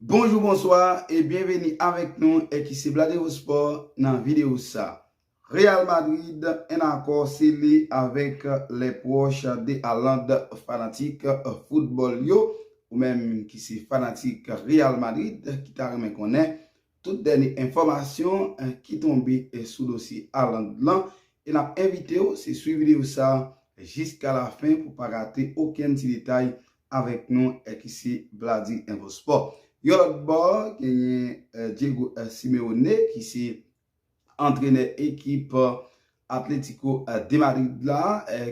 Bonjou bonswa e byenveni avèk nou ekise Bladero Sport nan videyo sa. Real Madrid en akò sele avèk lè pwòch de Haaland fanatik foutbòl yo ou menm ki se fanatik Real Madrid ki ta renmen konnen Tout dènye enfòmasyon ki tonbe sou dosye Haaland lan e n ap envite w se swiv videyo sa jiska lafen pou pa rate okenn ti detay avèk nou ki se Bladi Info Sport. Yon lòt bò genyen Diego Simeone ki se Antrenè ekip Atlético de Madrid la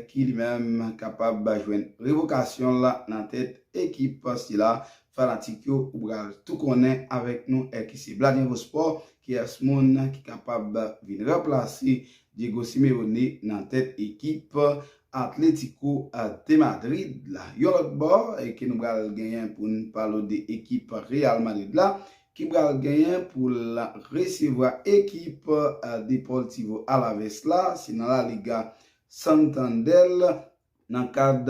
ki li menm kapab jwenn revokasyon l nan tèt ekip sila, fanatik yo ou pral tou konnen avèk nou ki se Bladinvo Sport, kiyès moun ki kapab vin ranplase Diego Simeone nan tèt ekip Atlético de Madrid la. Yon lòt bò ke nou pral genyen pou n pale w de ekip Real Madrid la, ki pral genyen pou l resevwa ekip Deportivo Alaves la, se nan La Liga Santander nan kad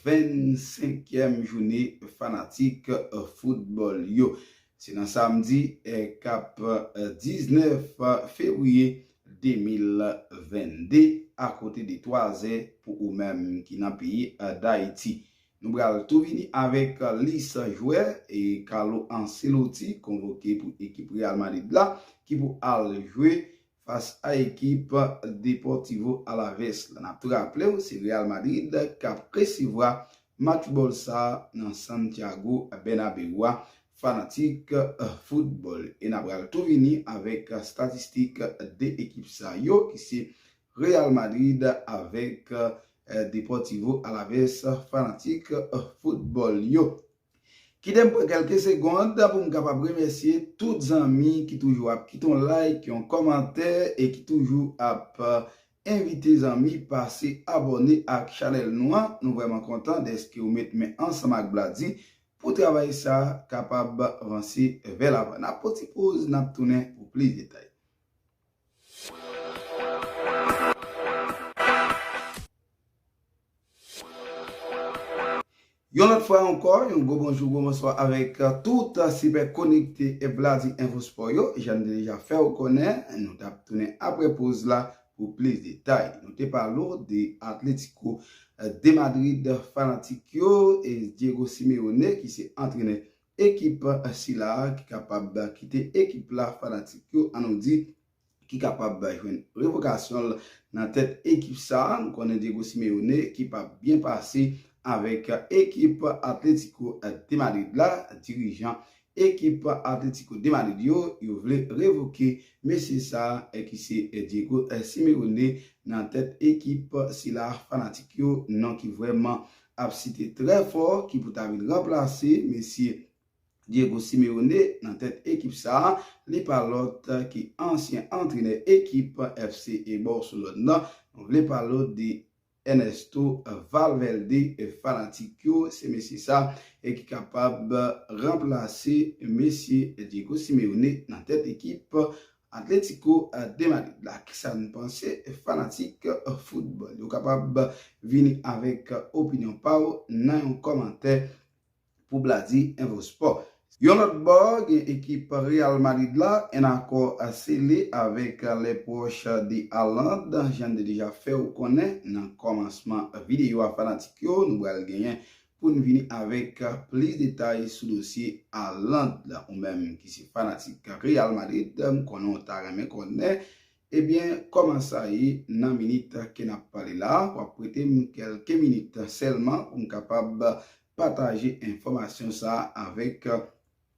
25 kièm joune fanatik foutbòl yo. Se nan samdi kap 19 fevriye 2022 akote de 3 zè pou ou menm ki nan peyi Dayiti. Nou pral tou vini avèk lis jwè Carlo Ancelotti konvoke pou ekip Real Madrid la ki pou al jwe fas a ekip Deportivo Alaves la. N ap tou raple w se Real Madrid k ap resevwa match bòl sa nan Santiago Bernabeu a fanatik foutbòl e n a pral tou vini avèk statistik 2 ekip sa yo ki se Real Madrid avèk Deportivo Alaves fanatik foutbòl yo. Kite m pran kèlke segond pou m kapab remèsye tout zanmi ki toujou ap kite yon like, yon kòmantè e ki toujou ap envite zanmi pase abòne ak chanèl nou an. Nou vrèman kontan dèske ou met men ansanm ak Bladi pou travay sa kapab vanse vè lavan. N ap pran ti poz, n ap tounen pou plis detay. Yon lòt fwa ankò, yon gwo bonjou, gwo bonswa avèk tout sipè konekte Bladi Enfo Spò yo. Jan n te deja fè ou konnen, nou t ap tounen apre poz la pou plis detay. Nou te pale ou de Atlético de Madrid fanatik yo e Diego Simeone ki se antrenè Ekip sila ki kapab kite ekip la fanatik yo an nou di ki kapab jwenn revokasyon l nan tèt ekip sa nou konnen Diego Simeone ki pa byen pase avèk ekip Atlético de Madrid la dirijan ekip Atlético de Madrid yo yo vle revoke mesye sa ki se Diego Simeone nan tèt ekip sila fanatik yo non ki vrèman ap site trè fò ki pou ta vin ranplase mesye Diego Simeone nan tèt ekip sa, li pa lòt ki ansyen antrenè ekip FC e Barcelone nan, nou vle palo de Ernesto Valverde fanatik yo, se mesye sa e ki kapab ranplase mesye Diego Simeone nan tèt ekip Atlético de Madrid la kisa nou panse fanatik foutbòl yo kapab vini avèk opinyon pa w nan yon kòmantè pou Bladi Enfo Sport. Yon lòt bò gen ekip Real Madrid la, 1 akò sele avèk les proches de Haaland, jan n te deja fè w konnen nan kòmansman videyo a fanatik yo nou pral genyen pou n vini avèk plis detay sou dosye Haaland la. Ou menm ki se fanatik Real Madrid, m konnen w ta renmen konnen ebyen kòman sa ye nan minit ke n ap pale la. W ap prete m kèlke minit sèlman pou m kapab pataje enfòmasyon sa avèk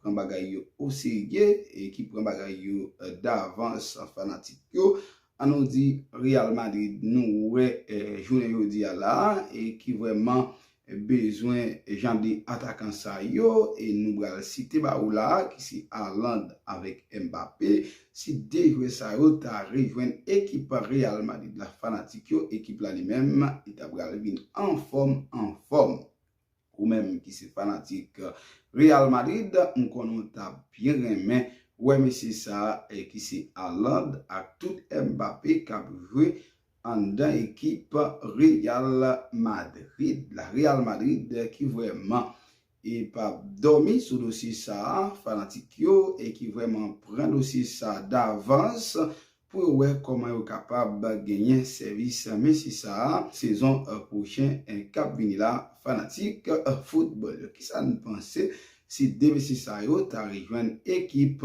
pran bagay yo oserye e ki pran bagay yo davans fanatik yo an nou di Real Madrid nou wè jounen jodi a la e ki vrèman bezwen jan de atakan sa yo e nou bral site ba ou la ki se Haaland avèk Mbappé si 2 jwè sa yo ta rejwenn ekip Real Madrid la fanatik yo ekip la li menm li ta bral vin anfòm anfòm. Ou menm ki se fanatik Real Madrid, m konnen w ta byen renmen wè mesye sa ki se Haaland ak tout Mbappé k ap jwe anndan ekip Real Madrid la. Real Madrid ki vrèman p ap dòmi sou dosye sa, fanatik yo ki vrèman pran dosye sa davans pou yo wè kòman yo kapab genyen sèvis Messi sa a sezon pwochen k ap vini la Fanatik foutbòl yo, kisa n panse si 2 mesye sa yo ta rejwenn ekip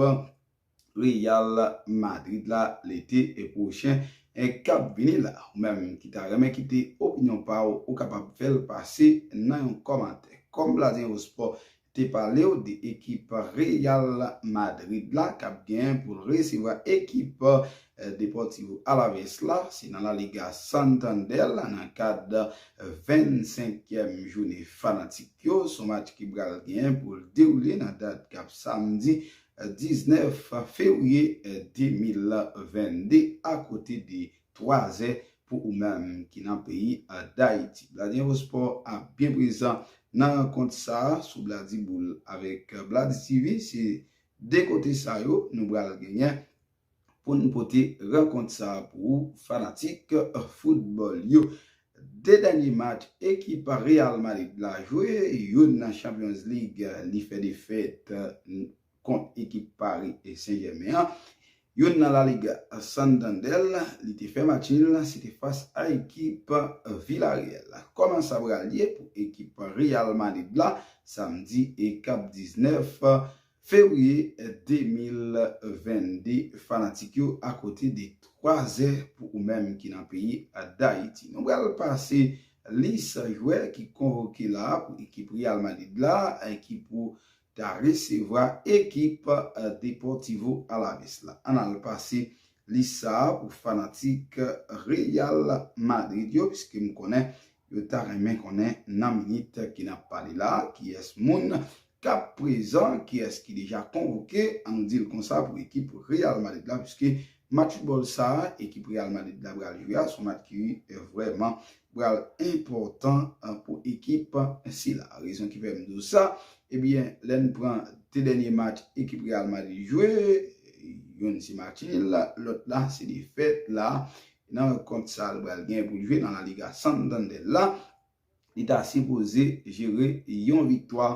Real Madrid la lete pwochen k ap vini la? Ou menm ki ta renmen kite opinyon pa w, ou kapab fè l pase nan yon kòmantè. Kòm Bladenzport te palew de ekip Real Madrid la kap gen poul resevwa ekip Deportivo Alaves la, se nan La Liga Santander la nan kad 25 kièm jounen fanatik yo, son match ki pral gen poul dewoule nan dat kap samdi 19 fevriye 2022 akote de 3 zè pou ou menm ki nan peyi Dayiti. BladiInfoSpò ap byen prezan nan rankont sa a sou BladiBoul avèk BladiTv. Se 2 kote sa yo nou pral genyen pou n pote rankont sa a pou ou fanatik foutbòl yo. 2 dènye match ekip Real Madrid la jwe, youn nan Champions League li fè defèt kont ekip Paris Saint-Germain an. Youn nan La Liga Santander, li te fè match nil la, se te fas a ekip Villarreal la. Kòman sa pral ye pou ekip Real Madrid la samdi kap 19 fevriye 2022 fanatik yo akote de 3 zè pou ou menm ki nan peyi Dayiti. Nou pral pase lis jwè ki konvoke la pou ekip Real Madrid la ki pou ta resevwa ekip Deportivo Alaves la. Ann al pase lis sa a pou fanatik Real Madrid yo piske m konnen yo ta renmen konnen nan minit ki n ap pale la a kiyès moun k ap prezan, kiyès ki deja konvoke an nou di l konsa pou ekip Real Madrid la piske match foutbòl sa a ekip Real Madrid la pral jwe a s on match ki vrèman pral enpòtan pou ekip sila. Rezon ki fè m di w sa, ebyen lè n pran 2 dènye match ekip Real Madrid jwe, youn se match nil, lòt la se defèt la nan rankont sa l pral gen pou l jwe nan La Liga Santander la, li ta sipoze jere yon viktwa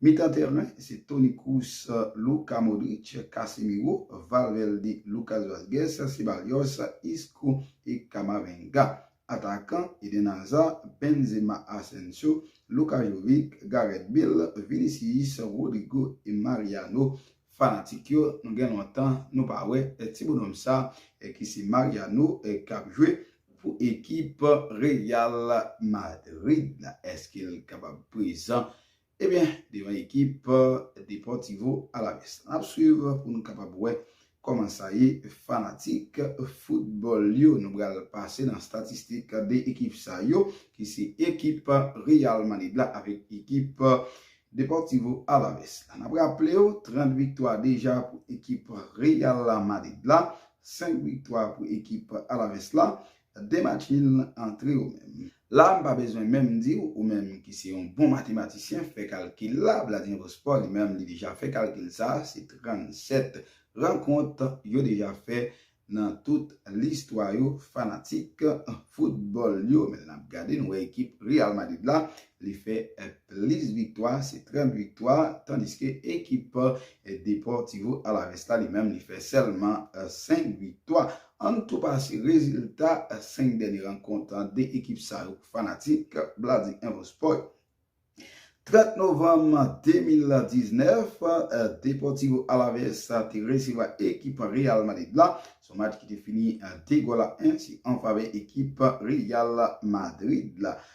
Mitan tèren, se Toni Kroos, Luka Modric, Casemiro, Valverde, Lucas Vazquez, Ceballos, Isco e Camavinga. Atakan, Eden Hazard, Benzema, Asensio, Luka Jovic, Gareth Bale, Vinicius, Rodrygo e Mariano. Fanatik yo, nou gen lontan nou pa wè ti bonòm sa ki se Mariano k ap jwe pou ekip Real Madrid. Eske l kapab prezan Ebyen devan ekip Deportivo Alaves. Nap swiv pou nou kapab wè kòman sa ye fanatik football yo. Nou pral pase nan statistik 2 ekip sa yo ki se ekip Real Madrid la avèk ekip Deportivo Alaves la. Nap raplew 30 viktwa deja pou ekip Real Madrid la, 5 viktwa pou ekip Alaves la. Demach min lan antre ou menm. La m pa bezwen menm di w ou menm ki se yon bon matematisyen fè kalkil la, Vladimir Vosport li menm li deja fè kalkil sa, se 37 rankont yo deja fè nan tout listwa yo fanatik foutbòl yo men lè n ap gade nou wè ekip Real Madrid la li fè plis viktwa se 30 viktwa tandiske ekip Deportivo Alaves la li menm li fè sèlman 5 viktwa. Ann tou pase rezilta 5 dènye rankont 2 ekip sa yo pou fanatik Bladi Info Sport. 30 novanm 2019, Deportivo Alaves te resevwa ekip Real Madrid la, son match ki te fini 2 gòl a 1 se an favè ekip Real Madrid la.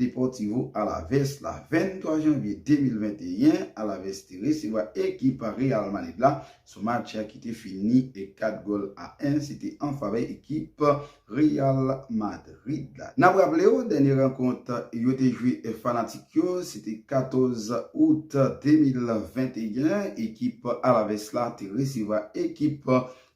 Deportivo Alavés la, 23 janvye 2021, Alavés te resevwa ekip Real Madrid la sou match ki te fini 4 gòl a 1, se te an favè ekip Real Madrid la. N ap raple w, dènye rankont yo te jwe fanatik yo, se te 14 out 2021, ekip Alavés la te resevwa ekip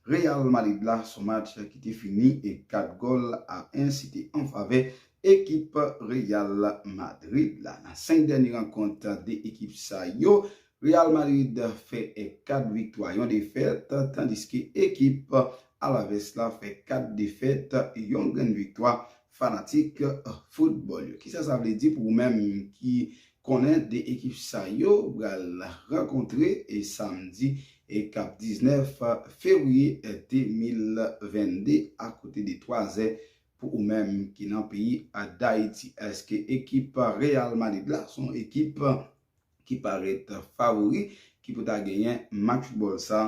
Real Madrid la sou match ki te fini 4 gòl a 1, se te an favè Ekip Real Madrid la. Nan 5 dènye rankont 2 ekip sa yo, Real Madrid fè 4 viktwa, yon defèt, tandiske ekip Alaves la fè 4 defèt, yon grenn viktwa, fanatik foutbòl yo. Kisa sa vle di pou ou menm ki konnen 2 ekip sa yo pral rankontre samdi k ap 19 fevriye 2022 akote de 3 zè Pou ou menm ki nan peyi Dayiti, eske ekip Real Madrid la son ekip ki parèt favori ki pou ta genyen match foutbòl sa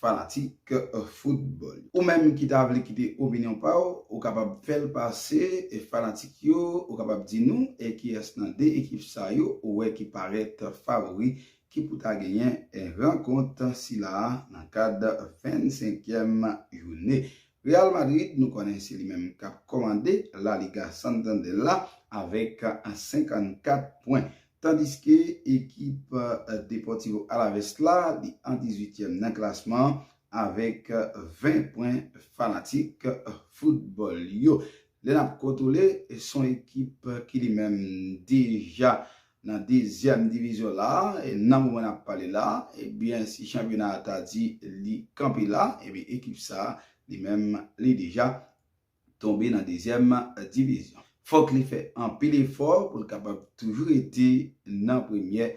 fanatik foutbòl yo? Ou menm ki ta vle kite opinyon pa w, ou kapab fè l pase fanatik yo, ou kapab di nou e kiyès nan 2 ekip sa yo ou wè ki parèt favori ki pou ta genyen rankont sila a nan kad 25 kièm joune Real Madrid nou konnen se li menm kap kòmande La Liga Santander la avèk 54 pwen. Tandiske ekip Deportivo Alaves la li an 18 tièm nan klasman an avèk 20 pwen fanatik foutbòl yo lè nap kontwole son ekip ki li menm deja Nan dezyèm divizyon la, nan moman n ap pale la, ebyen si chanpyona a ta di li kanpe la, ebyen ekip sa a li menm li deja tonbe nan dezyèm divizyon. Fòk li fè anpil efò pou l kapab toujou rete nan premyè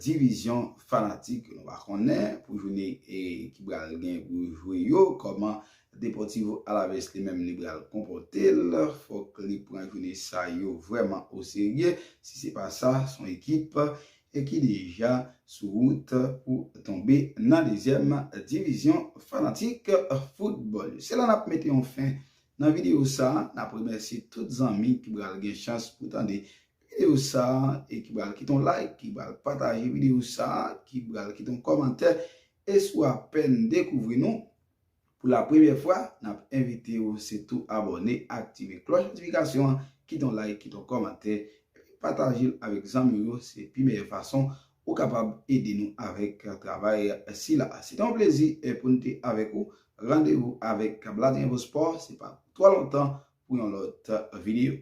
divizyon fanatik nou va konnen pou jounen ki pral gen pou yo jwe yo kòman Deportivo Alaves li menm li pral konpòte l, fòk li pran joune sa yo vrèman oserye, si se pa sa s on ekip ki deja sou wout pou tonbe nan dezyèm divizyon fanatik foutbòl yo. Se la n ap mete yon fen nan videyo sa, n ap remèsye tout zanmi ki pral gen chans pou tande videyo sa e ki pral kite yon like, ki pral pataje videyo sa, ki pral kite yon kòmantè e si w apèn dekouvri nou, Pou la premyè fwa, nap envite ou se tou abòne, aktive klòch notifikasyon an, kite yon like, kite yon kòmantè, epi pataje l avèk zanmiw yo, se pi meyè fason ou kapab ede nou avèk travay sila a. Se te yon plezi pou n te avèk ou, randevou avèk Bladenvosport se pa pou twò lontan pou yon lòt videyo.